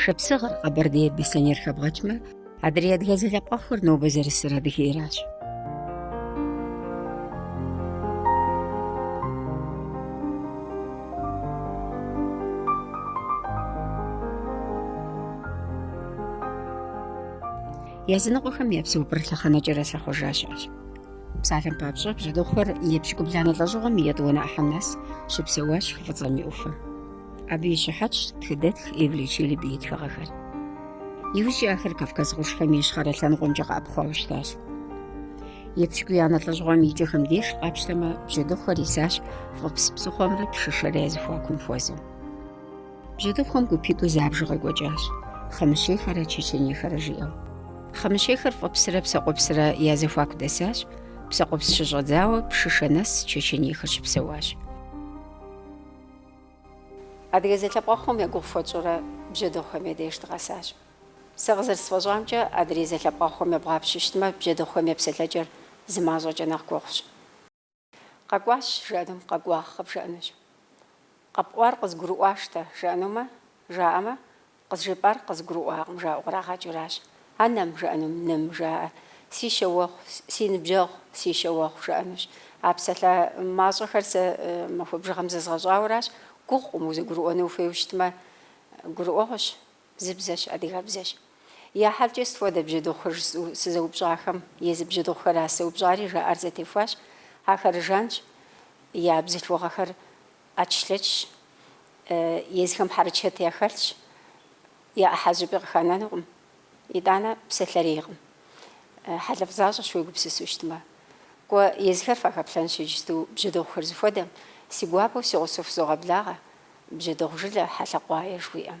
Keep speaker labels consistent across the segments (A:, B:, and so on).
A: Шапсыгъыр Къэбэрдейр Беслъэнейр хэбгъэкӏмэ, адрей адыгэ зэлъэпкъэгъухэр нобэ зэрысыр Адыгейращ. Языныкъуэхэм я псэупӏэр лъэхъэнэкӏэрэ щахъуэжа щыӏэщ. Псалъэм папщӏэ, бжьэдыгъухэр епщыкӏубланэ лӏэщӏыгъуэм и етӏуанэ ӏыхьэм нэс щыпсэуащ хы Фӏыцӏэм и ӏуфэм. Абы и щыхьэтщ тхыдэтх Эвлия Челеби и тхыгъэхэр. Иужькӏи ахэр Кавказ къуршхэм и ищхъэрэ лъэныкъуэмкӏэ къэӏэпхъуауэ щытащ. Епщыкӏуиянэ лӏэщӏыгъуэм и кӏэхэм деж къапщтэмэ, бжьэдыгъухэр исащ Фӏыпс псыхъуэмрэ Пшышэрэ я зэхуакум хуэзэу. Бжьэдыгъухэм гупитӏу забжу къекӏуэкӏащ, хъымыщейхэрэ чеченейхэрэ жиӏэу. Хъымыщейхэр Фӏыпсрэ Псэкъупсрэ я зэхуаку дэсащ, Псэкъупс щыщӏэдзауэ Пшышэ нэс чеченейхэр щыпсэуащ. Адыгэ зэлъэпкъэгъухэм я гугъу фхуэтщӏурэ бжьэдыгъухэм я деж дыкъэсащ. Сэ къызэрысфӏэщӏамкӏэ, адрей зэлъэпкъэгъухэм ебгъапщэу щытмэ, бжьэдыгъухэм я псэлъэкӏэр зы мащӏэкӏэ нэхъ гугъущ. Къэкӏуащ, жаӏэнум къэкӏуагъ къыбжаӏэнущ. Къэпӏуар къызгурыӏуащтэ, жаӏэнумэ, жаӏэмэ, Къызжепӏар къызгурыӏуакъым, жаӏэу кърагъэкӏыуращ. Анэм, жаӏэнум, ным, жаӏэ. Си щэуэгъу, си ныбжьэгъу, си щэуэгъу, жаӏэнущ. А псалъэ мащӏэхэр сэ махуэ бжыгъэм зэзгъэщӏауэращ. Гугъукъым, узэгурыӏуэну ухуейуэ щытмэ, гурыӏуэгъуэщ. Зы бзэщ, адыгэбзэщ. Я хьэлкӏэ сыт хуэдэ бжьэдыгъухэр жысӏэу сызэупщӏахэм, езы бжьэдыгъухэращ сызэупщӏари, жаӏэр зэтехуащ. Ахэр жанщ, я бзылъхугъэхэр. ӏэчлъэчщ, езыхэм хьэрычэт яхэлъщ, я ӏыхьэ зыщӏыпӏи къыханэнукъым, итӏанэ псалъэрейкъым. Хьэлыфӏ защӏэщ уегупсысу щытмэ. Кӏуэ, езыхэр фахэплъэнщ иджысту бжьэдыгъухэр зыхуэдэм, си гуапэу си гъусэу фызогъэблагъэ, бжьэдыгъу жылэ Хьэлъэкъуае жыхуиӏэм.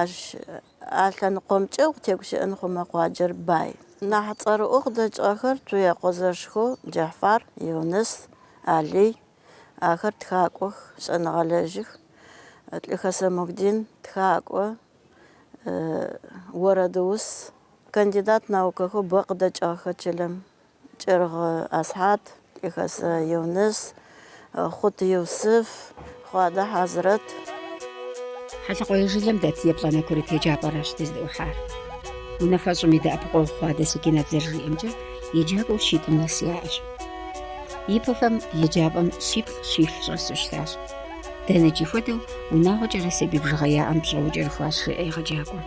B: Ащ а лъэныкъуэмкӏэ укъытегущыӏэн хъумэ къуаджэр бай. Нэхъ цӏэрыӏуэу къыдэкӏыгъэхэр Цуекъуэ зэшхэу, Джэхьфар, Юныс, Алий, ахэр тхакӏуэх, щӏэныгъэлэжьых, Лӏыхэсэ Мухьдин, тхакӏуэ, уэрэдыус, кандидат наукэхэу бэ къыдэкӏыгъэх чылэм Кӏыргъ Асхьад, Лӏыхэсэ Юныс, Хъут Юсыф, Хъуадэ
A: Хьэзрэт. Хьэлъэкъуае жылэм дэт еплӏанэ курыт еджапӏэращ дыздыӏухьар. Унафэщӏым и дэӏэпыкъуэгъу Хъуадэ Секинат зэрыжиӏэмкӏэ, еджакӏуэу щитӏым нэс яӏэщ. Ипэхэм еджапӏэм щиплӏ-щитху щӏэсу щытащ. Дэнэкӏи хуэдэу унагъуэкӏэрэ сабий бжыгъэ яӏэм пщӏэуэ кӏэрыхуащ, жеӏэ егъэджакӏуэм.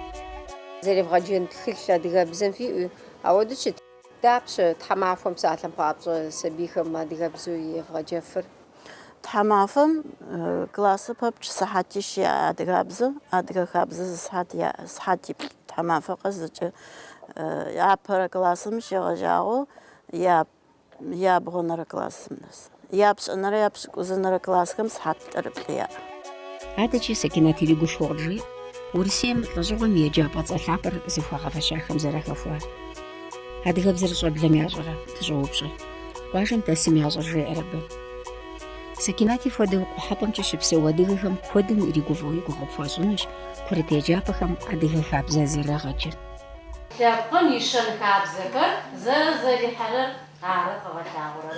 A: Зэревгъэджэн
C: тхылъ адыгэбзэм фиӏэу дауэ щыт. Дапщэ тхьэмахуэм псалъэм папщӏэ сабийхэм адыгэбзу евгъэджэфыр? Тхьэмафэм
B: классы пэпчъ сыхьэтищ яӏэ адыгабзэм, адыгэ хабзэ зы сыхьэт яӏэ, сыхьэтиплӏ тхьэмафэ къэс зыкӏэ. Апэрэ классым щегъэжьагъэу я, ябгъуэнэрэ классым нэс. Япщӏэнэрэ япщӏыкӏузэнэрэ классхэм сыхьэт плӏырыплӏ яӏэ.
A: Адэкӏи Сэкинат иригушхуэу къыджеӏэ Урысейм лӏэщӏыгъуэм и еджапӏэ цӏэ лъапӏэр зыхуагъэфэщахэм зэрахэхуар. Адыгэбзэр щӏэблэм ящӏэрэ? дыщӏоупщӏэ. Къуажэм дэсым ящӏэр жеӏэр абы. Сэкинати хуэдэу Къухьэпӏэмкӏэ щыпсэу адыгэхэм куэдым иригуфӏэу и гугъу пхуащӏынущ курыт еджапӏэхэм адыгэ хабзэ зэрагъэджыр. Лъэпкъым
D: и щэн хабзэхэр зэрызэрихьэрэр ары къыгъэлъагъуэрэр.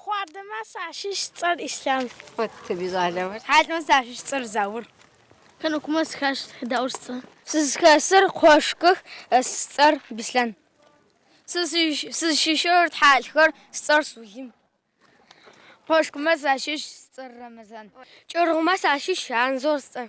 E: Хъуадэмэ сащыщ сцӏэр Ислъам. Хъуэттым и
A: щӏалэмэ. Хьэлмэ сащыщ сцӏэр
E: Заур. Хьэнукмэ
F: схащ Даур сцӏэр. Сызхэсыр Кхъуэшкых сцӏэр Бислъэн. Сызщыщыр Тхьэлхэр сцӏэр Сулим. Кхъуэшкмэ сащыщ сцӏэр Рэмэзан. Кӏыргъумэ сащыщ Анзор сцӏэр.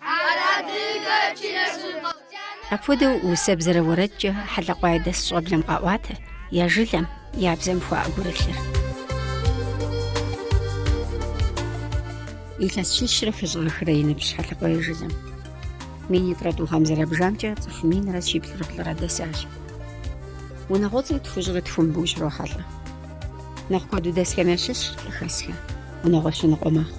F: Ар адыгэ
A: чынэжьыпӏэу. Апхуэдэу усэбзэрэ уэрэдкӏэ Хьэлъэкъуай дэс щӏэблэм къаӏуатэ я жылэм, я бзэм хуаӏэ гурылъыр. Илъэс щищрэ хыщӏрэ хырэ и ныбжь Хьэлъэкъуай жылэм. Мин итӏрэ тӏу гъэм зэрабжамкӏэ цӏыху минрэ щиплӏрэ плӏырэ дэсащ. Унагъуэцӏэ тхущӏрэ тхум абы ущрохьэлӏэ. Нэхъ куэду дэсхэм ящыщщ Лӏыхэсхэ, унагъуэ щэ ныкъуэ мэхъу.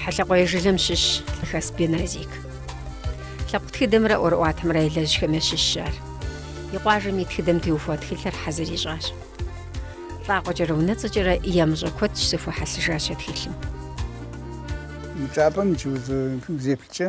A: Хьэлъэкъуей жылэм щыщщ Лӏыхэс Беназик. Лъэпкъ тхыдэмрэ ӏуэрыӏуатэмрэ елэжьхэм ящыщщ ар. И къуажэм и тхыдэм теухуа тхылъыр хьэзыр ищӏащ. Лӏакъуэкӏэрэ унэцӏэкӏэрэ ямыщӏэ куэд щызэхуихьэсыжащ а тхылъым. Мы
G: чӏыпӏэм иджы узеплъкӏэ.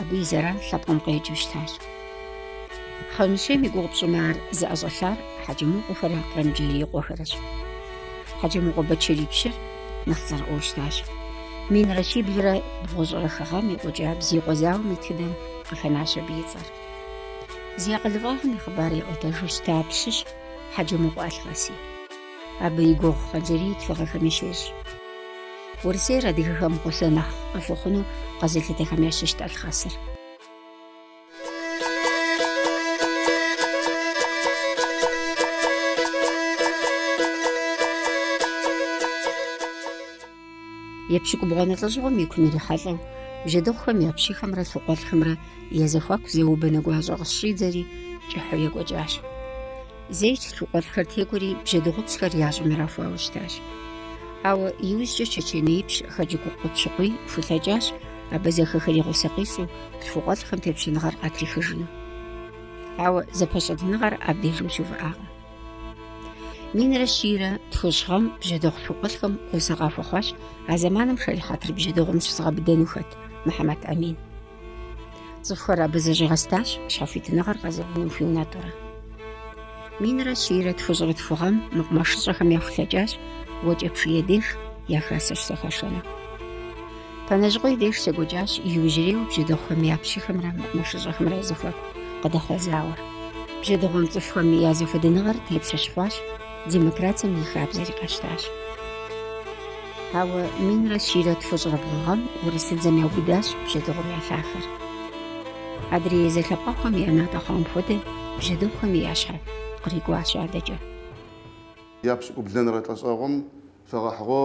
A: Абы и зэран лъэпкъым къекӏыу щытащ. Хъымыщейм и гугъу пщӏымэ ар зыӏэщӏэлъар Хьэджэмыкъуэхэрэ Кърымджэрийкъуэхэрэщ. Хьэджэмыкъуэ Бэтчэрий пщыр нэхъ цӏэрыӏуэу щытащ. Минрэ щиблрэ бгъущӏрэ хы гъэм екӏуэкӏа Бзиикъуэ зауэм и тхыдэм къыхэнащ абы и цӏэр. Зи акъылыфӏагъым и хъыбар яӏуэтэжу щыта пщыщ Хьэджэмыкъуэ Алхъэси. Абы и гугъу Хъанджэрий тхыгъэхэми щещӏ. Урысейр адыгэхэм гъусэ нэхъ къыхуэхъуну къэзылъытэхэм ящыщт Алхъэсыр. Епщыкӏубгъуанэ лӏэщӏыгъуэм и кум ирихьэлӏэу, бжьэдыгъухэм я пщыхэмрэ лъхукъуэлӏхэмрэ я зэхуаку зауэ-банэ гуащӏэ къыщыщӏидзэри кӏыхьу екӏуэкӏащ. Зейщ лъхукъуэлӏхэр текӏуэри бжьэдыгъупщхэр я щӏым ирахуауэ щытащ. Ауэ иужькӏэ чэченеипщ Хэджэгукъуэ Пщыкъуий хулъэкӏащ абазэхэхэри гъусэ къищӏу лъхукъуэлӏхэм тепщэныгъэр къатрихыжыну. Ауэ зэпэщӏэтыныгъэр абдежым щыувыӏакъым. Минрэ щийрэ тхущӏ гъэм бжьэдыгъу лъхукъуэлӏхэм гъусэ къахуэхъуащ а зэманым шэрихьэтыр бжьэдыгъум щызыгъэбыдэну хэт Мухьэмэд Амин. Цӏыхухэр абы зэщӏигъэстащ щхьэхуитыныгъэр къэзэуным хуиунэтӏурэ. Минрэ щийрэ тхущӏрэ тху гъэм мэкъумэшыщӏэхэм яхулъэкӏащ Уэчэпщий деж я хасэ щызэхашэну. Пэнэжьыкъуей деж щекӏуэкӏащ иужьрейуэ бжьэдыгъухэм я пщыхэмрэ мэкъумэшыщӏэхэмрэ я зэхуаку къыдэхъуа зауэр. Бжьэдыгъум цӏыхухэм я зэхуэдыныгъэр тепщэ щыхъуащ, демократием и хабзэри къащтащ. Ауэ минрэ щийрэ тхущӏрэ бгъу гъэм урысыдзэм яубыдащ бжьэдыгъухэм я лъахэр. Адрей зэлъэпкъэгъухэм я натӏэ хъуам хуэдэ бжьэдыгъухэми я щхьэ кърикӏуащ адэкӏэ.
H: Япщӏыкӏублэнэрэ лӏэщӏэгъум
A: фэгъэхьыгъэ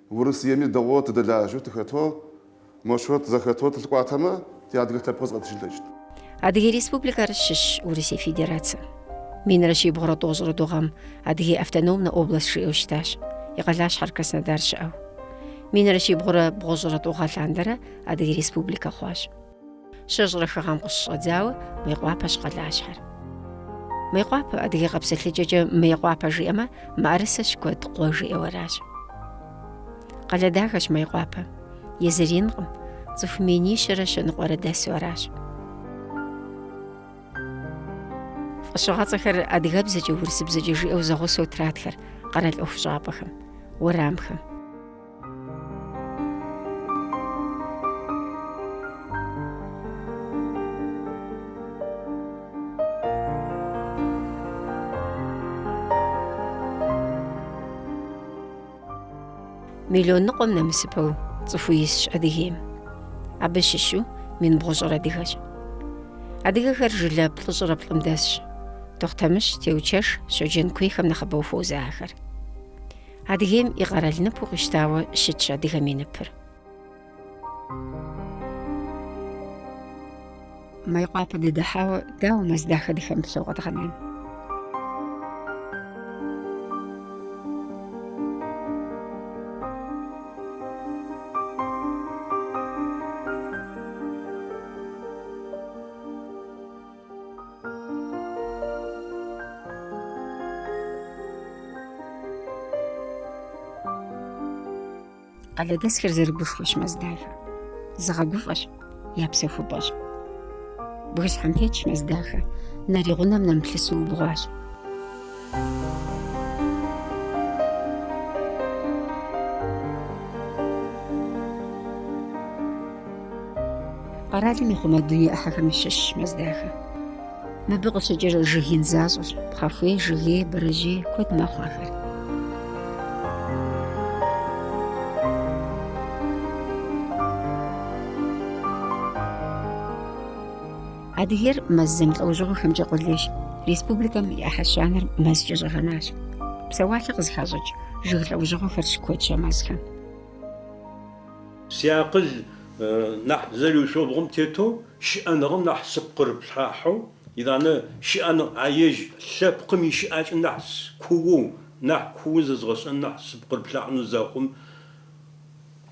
H: Урысыеми дэгъоу тыдэлажьэу тыхэтэу моущтэу тызэхэтэу тылъыкӏуатэмэ, тиадыгэ лъэпкъ зыкъиӏэтыжьын ылъэкӏыщт. Адыгей
A: Республикэр щыщщ Урысей Федерацэм. Минрэ щибгъурэ тӏощӏрэ тӏу гъэм Адыгей автономнэ област жиӏэу щытащ, и къалащхьэр Краснодар щыӏэу. Минрэ щибгъурэ бгъущӏрэ тӏу гъэ лъандэрэ Адыгей Республикэ хъуащ. Щэщӏрэ хы гъэм къыщыщӏэдзауэ Мыекъуапэщ къалащхьэр. Мыекъуапэ, адыгэ къэпсэлъыкӏэкӏэ Мыекъуапэ жиӏэмэ, мыӏэрысэ щыкуэд къуэ жиӏэу аращ. Къалэ дахэщ Мыекъуапэ. Езыр инкъым, цӏыху минищэрэ щэ ныкъуэрэ дэсу аращ. Фӏэщыгъэцӏэхэр адыгэбзэкӏэ, урысыбзэкӏэ жиӏэу зэгъусэу тратхэр къэрал ӏуэхущӏапӏэхэм, уэрамхэм. Миллион ныкъуэм нэмысыпэу цӏыху исщ Адыгейм. Абы щыщу мин бгъущӏыр адыгэщ. Адыгэхэр жылэ плӏыщӏрэ плӏым дэсщ. Тохъутэмыщ, Теучэжь, Щоджэн куейхэм нэхъыбэу хуозэ ахэр. Адыгейм и къэрал ныпу къищтауэ щытщ адыгэм и ныпыр. Мейкъуапэ дыдыхьауэ дауэ Мэздахэ дыхэмыплъэу къэдгъэнэн? Къалэдэсхэр зэрыгушхуэщ Мэздахэ. Зыгъэгуфӏэщ, я псэхупӏэщ. Бгыщхьэм тетщ Мэздахэ, нэр и гъунэм нэмыплъысу убгъуащ. Къэралым ихъумэ дуней ӏыхьэхэм щыщщ Мэздахэ. Мыбы къыщыкӏыр жыг ин защӏэщ, пхъэхуей, жыгей, бэрэжьей куэд мэхъу ахэр. Адыгейр мэз зэмылӏэужьыгъуэхэмкӏэ къулейщ. Республикэм и ӏыхьэ щанэр мэзкӏэ щӏэгъэнащ. Псэуалъэ къызыхащӏыкӏ жыг лӏэужьыгъуэхэр щыкуэдщ а мэзхэм. Си
I: акъыл нахь зэриушъомбгъум тетэу, щыӏэныгъэм нахь сыпкъырыплъахьэу, итӏанэ щыӏэныгъ а ежь лъэпкъым и щыӏакӏэ нахь кууэу, нахь кууэ зэзгъэщӏэн нахь сыпкъырыплъахьыну зэхъум,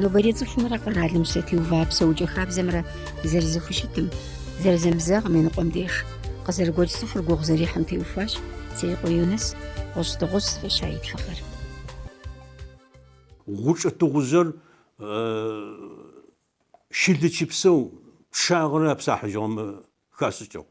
A: Нобэрей цӏыхумрэ къэралым щытеува псэукӏэ хабзэмрэ зэрызэхущытым, зэрызэмызэгъым и ныкъуэм деж, къызэрыгуэкӏ цӏыхур гугъу зэрихьым теухуащ Цуекъуэ Юныс, Гъущӏ дыгъужь зыфӏища и
I: тхыгъэр. Гъучӏэ тыгъужъыр щылычыпсэу пчъагъэрэ апсахьыжьыгъэмэ хашӏыкӏыгъ.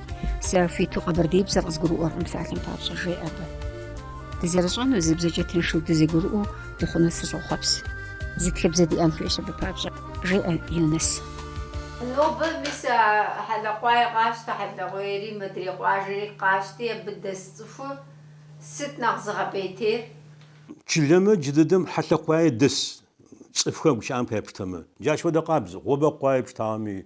A: Сэ хуиту къэбэрдеибзэр къызгурыӏуэркъым псалъэм папщӏэ, жеӏэ абы. Дызэрыщӏэну зы бзэкӏэ тыншу дызэгурыӏуэу дыхъуну сыщӏохъуэпс. Зы тхыбзэ диӏэн хуейщ абы папщӏэ, жеӏэ Юныс. Нобэ
D: мис а Хьэлъэкъуай къащтэ, Хьэлъэкъуейри, мыдрей къуажэри къащти, абы дэс цӏыхур сыт нэхъ зыгъэпӏейтейр? Чылэмэ
I: джы дыдэм Хьэлъэкъуае дэс цӏыфхэр гущыӏэм пае пштэмэ, джащ фэдэ къабз Гъобэкъуае пштагъэми,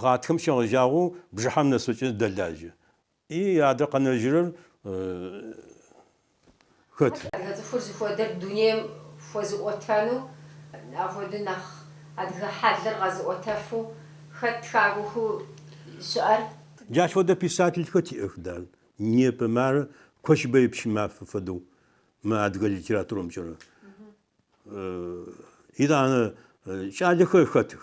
I: Гъатхэм щегъэжьагъэу бжыхьэм нэсэкӏэ дэлажьэ. И адэ къэнэжьырэр хэт? Адыгэ цӏыхур зыхуэдэр дунейм хуэзыӏуэтэну, апхуэдэу нэхъ адыгэ хьэлыр къэзыӏуэтэфу хэт
C: тхакӏуэхэу щыӏэр? Джащ
I: фэдэ писательхэ тиӏэх, дан. Непэ мары Кощбэе Пщымафэ фэдэу мы адыгэ литературэмкӏэрэ. Итӏанэ кӏалэхэр хэтых,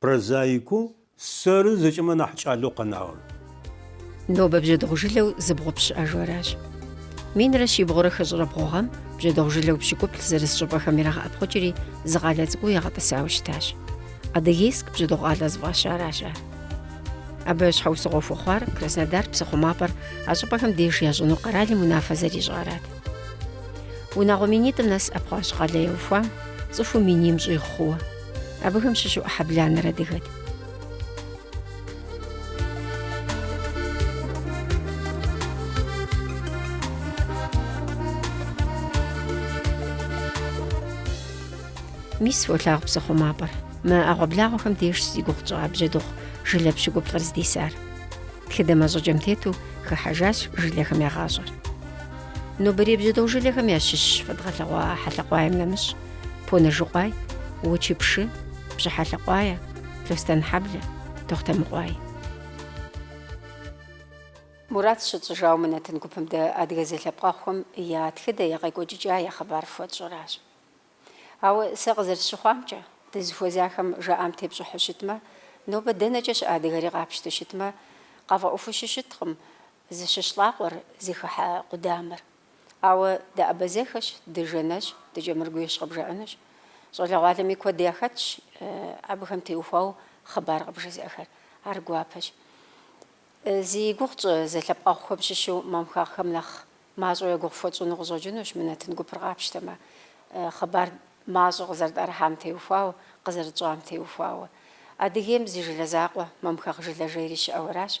I: Прозаикэу сэры зэкӏэмэ нахь кӏалэу къэнагъэр.
A: Нобэ бжьэдыгъу жылэу зыбгъупщӏ щыӏэжу аращ. Минрэ щибгъурэ хыщӏрэ бгъу гъэм бжьэдыгъу жылэу пщыкӏуплӏ зэрыс щӏыпӏэхэм ирагъэӏэпхъукӏри, зы къалэ цӏыкӏуу ягъэтӏысауэ щытащ. Адыгейск бжьэдыгъу къалэ зыфӏащаращ ар. Абы щхьэусыгъуэ хуэхъуар Краснодар псыхъумапӏэр а щӏыпӏэхэм деж ящӏыну къэралым унафэ зэрищӏарат. Унагъуэ минитӏым нэс ӏэпхъуащ къалэ яухуам, цӏыхуу миним щӏигъу хъууэ. Абыхэм щыщу ӏыхьэ бланэр адыгэт. Мис фолъагъу псыхъумапӏэр. Мы ӏэгъуэблагъуэхэм дежщ зи гугъу тщӏа бжьэдыгъу жылэ пщыкӏуплӏыр здисар. Тхыдэм а щӏыкӏэм тету хыхьэжащ жылэхэм я гъащӏэр. Нобэрей бжьэдыгъу жылэхэм ящыщщ фэдгъэлъэгъуа Хьэлъэкъуаем нэмыщӏ. Понэжыкъуай, Уэчэпщы, Пщыхьэлъэкъуае, Лъостэнхьэблэ, Тохъутэмыкъуай. Мурад щытщӏыжауэ мы нэтын гупым дэ адыгэ зэлъэпкъэгъухэм я тхыдэ, я къекӏуэкӏыкӏа я хъыбар фхуэтщӏыращ. Ауэ сэ къызэрысщыхъуамкӏэ, дызыхуэзахэм жаӏам тепщӏыхьу щытмэ, нобэ дэнэкӏэ щыӏэ адыгэри къапщтэу щытмэ, къафӏэӏуэхуу щыщыткъым зыщыщ лӏакъуэр, зыхыхьэ къудамэр. Ауэ дыабазэхэщ, дыжанэщ, дыкӏэмыргуейщ къыбжаӏэнущ. Щӏалэгъуалэми куэд яхэтщ абыхэм теухуауэ хъыбар къыбжезыӏэхэр. Ар гуапэщ. Зи гугъу тщӏы зэлъэпкъэгъухэм щыщу мамхэгъхэм нэхъ мащӏэу я гугъу фхуэтщӏыну къыщӏэкӏынущ мы нэтын гупыр къапщтэмэ, хъыбар мащӏэ къызэрытӏэрыхьам теухуауэ, къызэрытщӏам теухуауэ. Адыгейм зы жылэ закъуэ, Мамхэгъ жылэжьейри щыӏэу аращ,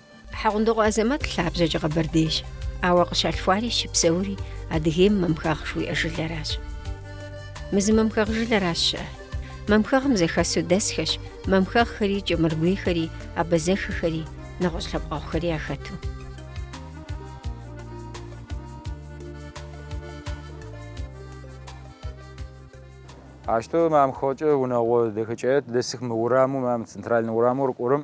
A: Хьэгъундокъуэ Азэмэт лъабжьэкӏэ къэбэрдейщ, ауэ къыщалъхуари щыпсэури Адыгейм Мамхэгъ жуиӏэ жылэращ. Мы зы мамхэгъ жылэращ щыӏэр. Мамхэгъым зэхэсу дэсхэщ мамхэгъхэри, кӏэмыргуейхэри, абазэхэхэри, нэгъуэщӏ лъэпкъэгъухэри
J: яхэту. Ащтэу мамхэгъкӏэ унэгъо дэхэкӏае дэсых мы ураму, мам центральнэ ураму рыкӏорэм.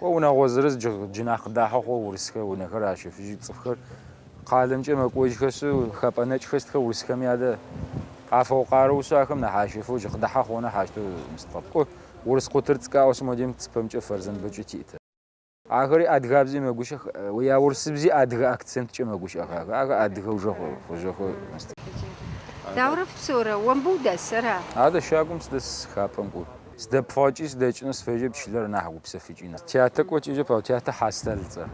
J: Къо унагъо зырыз джы нахь къыдахьэу хъугъэ урысхэ унэхэр ащэфыжьы, цӏыфхэр къалэмкӏэ мэкӏожьхэшъи, хэпӏэнэкӏхэр сытхэ урысхэми адэ къафэу къарэушъи ахэм нахь ащэфэу джы къыдахьэ хъугъэ нахь ащтэу зымыстэкъэпӏу. Урыс къутыр цӏыкӏаӏо сымодем цыпэмкӏэ Фэрзэнбэкӏи тиӏытэ. Ахэри адыгабзи мэгущэх, я урысыбзи адыгэ акценткӏэ мэгущыӏэх ахэр, ахэр адыгэ уже хъужьэхэу зымыстэкъэпӏу. Даурэ фыпсэурэ,
A: омбы удэсэра? Адэ щагум
J: сыдэс, хапӏэм кӏур. Сдэпфӏэкӏи сыдэкӏыну сфежьэп чылэр нахь гупсэфыкӏыну. Тятэ кӏуэкӏэкӏэ пӏэу? Тятэ Хьэзтал
A: цӏэр.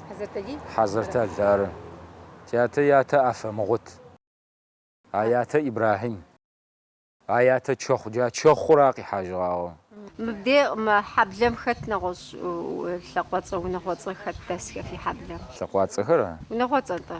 A: Хьэзэртали? Хьэзэртал,
J: ары. Тятэ ятэ Афэмгъут. А ятэ Ибрахьим. А ятэ Чэхъу, джа Чэхъур ар къихьажыгъагъэу.
A: Мыбдей мы хьэблэм хэт нэгъуэщӏ лӏакъуэцӏэ, унагъуэцӏэ хэт дэсхэ фи хьэблэм? Лӏэкъуацӏэхэра?
J: Унагъуэцӏэ-тӏэ.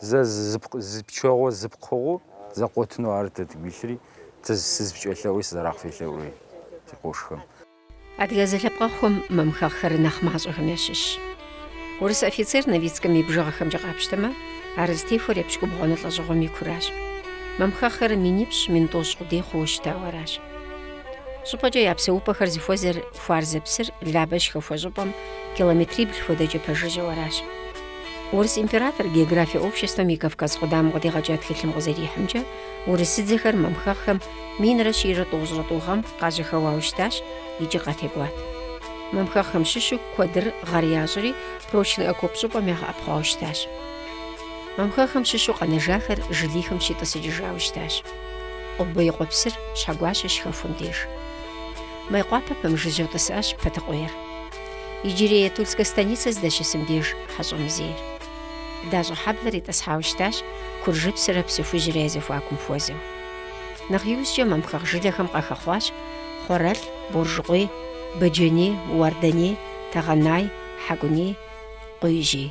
J: Зэ зы пчэгъуэ зы пкъыгъуу зэкъуэтыну ар дэ дигу илъри, дэ сызыпкӏэлъэӏуи сызэрахъфелъэӏуи ди къошхэм. Адыгэ
A: зэлъэпкъэгъухэм мамхэгъхэр нэхъ мащӏэхэм ящыщщ. Урыс офицер Новицкэм и бжыгъэхэмкӏэ къапщтэмэ, ар зытехуэр епщыкӏубгъуанэ лӏэщӏыгъуэм и куращ. Мамхэгъхэр минипщӏ, мин тӏощӏ къудей хъууэ щытауэ аращ. Щӏыпӏэкӏэ я псэупӏэхэр зыхуэзэр Хуарзэ псыр Лабэ щыхэхуэ щӏыпӏэм километрибл хуэдэкӏэ пэжыжьэу аращ. Урыс император география обществэм и Кавказ къудамэм къыдигъэкӏа тхылъым къызэрихьымкӏэ, урысыдзэхэр мамхэгъхэм минрэ щийрэ тӏощӏрэ тӏу гъэм къажьэхэуауэ щытащ икӏи къатекӏуат. Мамхэгъхэм щыщу куэдыр гъэр ящӏри, Прочный Окоп щӏыпӏэм ягъэӏэпхъуауэ щытащ. Мамхэгъхэм щыщу къэнэжахэр жылихым щитӏысыкӏыжауэ щытащ. Къуббы и къуэпсыр Щхьэгуащэ щыхэхуэм деж. Майкъуапэ пэмыжыжьэу тӏысащ Пэтыкъуейр. Иджырей Тульскэ станицэ здэщысым деж Хьэщӏэмзейр. Дащӏэхьэблэр итӏысхьауэ щытащ Куржыпсрэ Псыхужьрэ я зэхуакум хуэзэу. Нэхъ иужькӏэ мамхэгъ жылэхэм къахэхъуащ Хъуэрэлъ, Боржыкъуей, Бэджэней, Уарданей, Тэгъэнай, Хьэкӏуней, Къуижьей.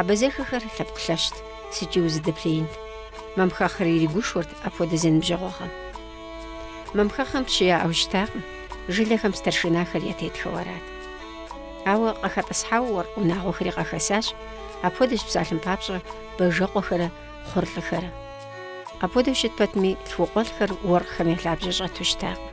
A: Абазэхэхэр лъэпкъ лъэщт, сыткӏи узыдэплъеинт. Мамхэгъхэр иригушхуэрт апхуэдэ зэныбжьэгъугъэм. Мамхэгъхэм пщы яӏэу щытакъым, жылэхэм старшинахэр ятетхэу арат. Ауэ къыхэтӏысхьауэ уэркъ унагъуэхэри къахэсащ, апхуэдэщ псалъэм папщӏэ Бажэкъуэхэрэ Хъурлӏыхэрэ. Апхуэдэу щыт пэтми, лъхукъуэлӏхэр уэркъхэм я лъабжьэ щӏэту щытакъым.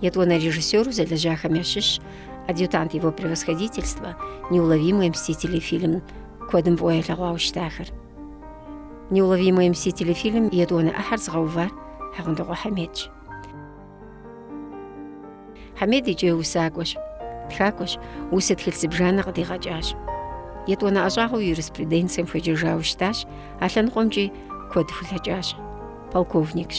A: Етӏуанэ режиссеру зэлэжьахэм ящыщщ Адъютант его превосходительства, Неуловимые мстители фильм куэдым фӏыуэ ялъэгъуауэ щытахэр. Неуловимые мстители фильм и етӏуанэ ӏыхьэр зыгъэувар Хьэгъундыкъуэ Хьэмедщ. Хьэмед икӏи усакӏуэщ, тхакӏуэщ, усэ тхылъ зыбжанэ къыдигъэкӏащ. Етӏуанэ ӏэщӏагъэу юриспруденцием хуеджэжауэ щытащ, а лъэныкъуэмкӏи куэд хулъэкӏащ. Полковникщ.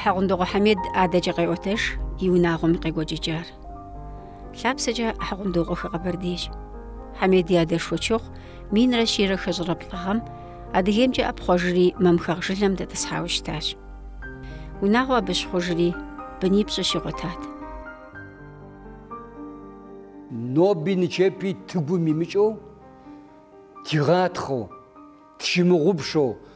A: Хьэгъундыкъуэ Хьэмед адэкӏэ къеӏуэтэж и унагъуэм къекӏуэкӏыкӏар. Лъапсэкӏэ Хьэгъундыкъуэхэ къэбэрдейщ. Хьэмед и адэ Шуэчыхъу минрэ щийрэ хыщӏрэ плӏы гъэм Адыгеймкӏэ ӏэпхъуэжри мамхэгъ жылэм дэтӏысхьауэ щытащ. Унагъуэ абы щыхъужри, бынипщӏы
K: щигъуэтат. Ноби нычэпи тыгум имыкӏыу, тигъатхъэу, тщымыгъупшэу